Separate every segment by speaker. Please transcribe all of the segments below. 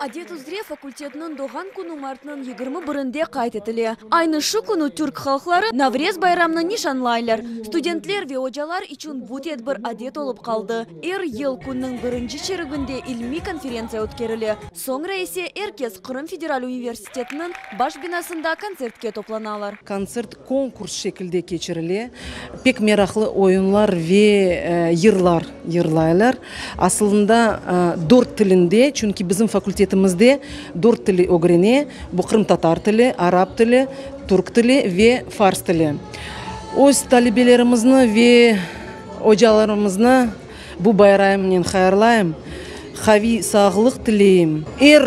Speaker 1: Adet üzre fakultetniñ doğğan künü martnıñ yigirmi birinde qayd etile. Aynı şu künü türk halqları Navrez bayramını nişanlaylar. Studentler ve ocalar içün bu tedbir adet olıp qaldı. Er yıl künniñ birinci çereginde ilmiy konferentsiya ötkerile, soñra ise er kes Qırım federal universitetiniñ baş binasında kontsertke toplanalar. Kontsert Konkurs
Speaker 2: şekilde keçirile. Pek meraqlı oyunlar ve yırlar yırlaylar. Asılında dört tilinde, çünki bizim fakultetimizde dört tili ögrene, bu qırımtatar tili, arap tili, türk tili ve fars tili. Öz talebelerimizni ve ocalarımıznı bu bayramnen hayırlayım, qaviy sağlıq tileyim. Er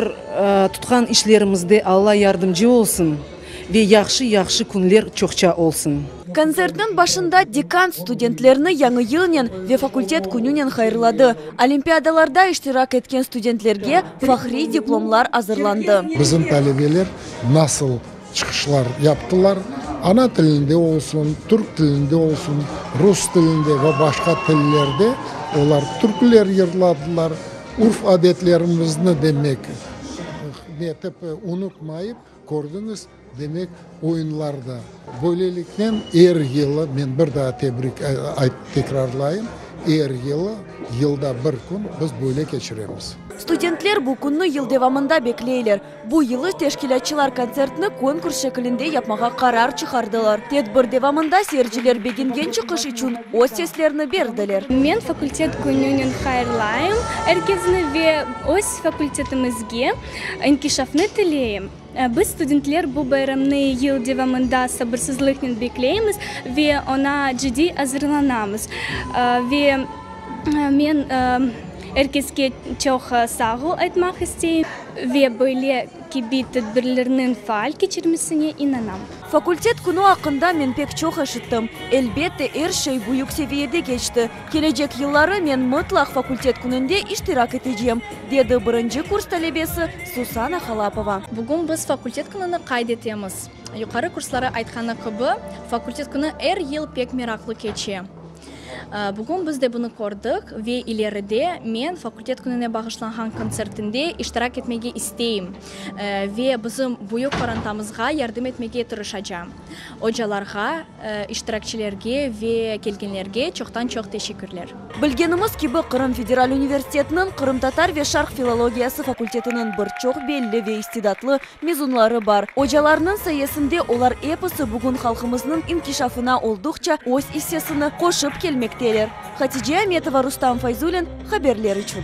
Speaker 2: tutqan işlerimizde Alla yardımcı olsun. Ve yahşı-yahşı künler çoqça olsun. Kontsertniñ başında
Speaker 1: dekan studentlerni Yañı yılnen ve Fakultet kününen hayırladı. Olimpiadalarda iştirak etken studentlerge fahriy diplomlar azırlandı. Bizim talebeler
Speaker 3: nasıl çıqışlar yaptılar, ana tilinde olsun, türk tilinde olsun, rus tilinde ve başqa tillerde olar türküler yırladılar, urf-adetlerimizni demek etip unutmayıp. Kördiñiz, demek, oyunlar da. Böyleliknen, er yılı, men bir daa tebrik aytıp tekrarlayım, er yılı, yılda bir kün biz böyle keçiremiz. Studentler bu
Speaker 1: künni yıl devamında bekleyler. Bu yılı teşkilâtçılar kontsertni konkurs şekilinde yapmağa qarar çıqardılar. Tedbir devamında seyirciler begengen çıqış içün öz seslerini berdiler. Men fakultet
Speaker 4: kününen hayırlayım er kesni ve öz fakultetimizge İnkişafnı tileyim. Biz, studentler, bu bayramnı yıl devamında sabırsızlıqnen bekleymiz ve oña ciddiy azırlanamız. Ve men er keske çoq sağ ol aytmaq isteyim. Ve böyle kibi tedbirlerniñ faal keçirilmesine inanam. Fakultet künü
Speaker 1: aqqında men pek çoq eşittim. Elbette, er şey büyük seviyede keçti. Kelecek yılları men mıtlaq fakultet kününde iştirak etecem, dedi birinci kurs talebesi Susana Halapova. Bugün biz fakultet
Speaker 5: kününi qayd etemiz. Yuqarı kursları aytqanı kibi, fakultet künü er yıl pek meraqlı keçe. Bugün biz de bunı kördik ve ileride men fakultet kününe bağışlanğan kontsertinde iştirak etmege isteyim ve bizim büyük qorantamızğa yardım etmege tırışacam. Ocalarğa. İştirakçilerge ve kelgenlerge çoqtan-çoq teşekkürler. Bilgenimiz kibi,
Speaker 1: Qırım federal universitetiniñ qırımtatar ve şarq filologiyası fakultetiniñ bir çoq belli ve istidatlı mezunları bar. Ocalarnıñ sayesinde olar episi bugün halqımıznıñ inkişafına olduqça öz issesini qoşıp kelmekteler. Hatice Ametova, Rustam Fayzulin, Haberler içün.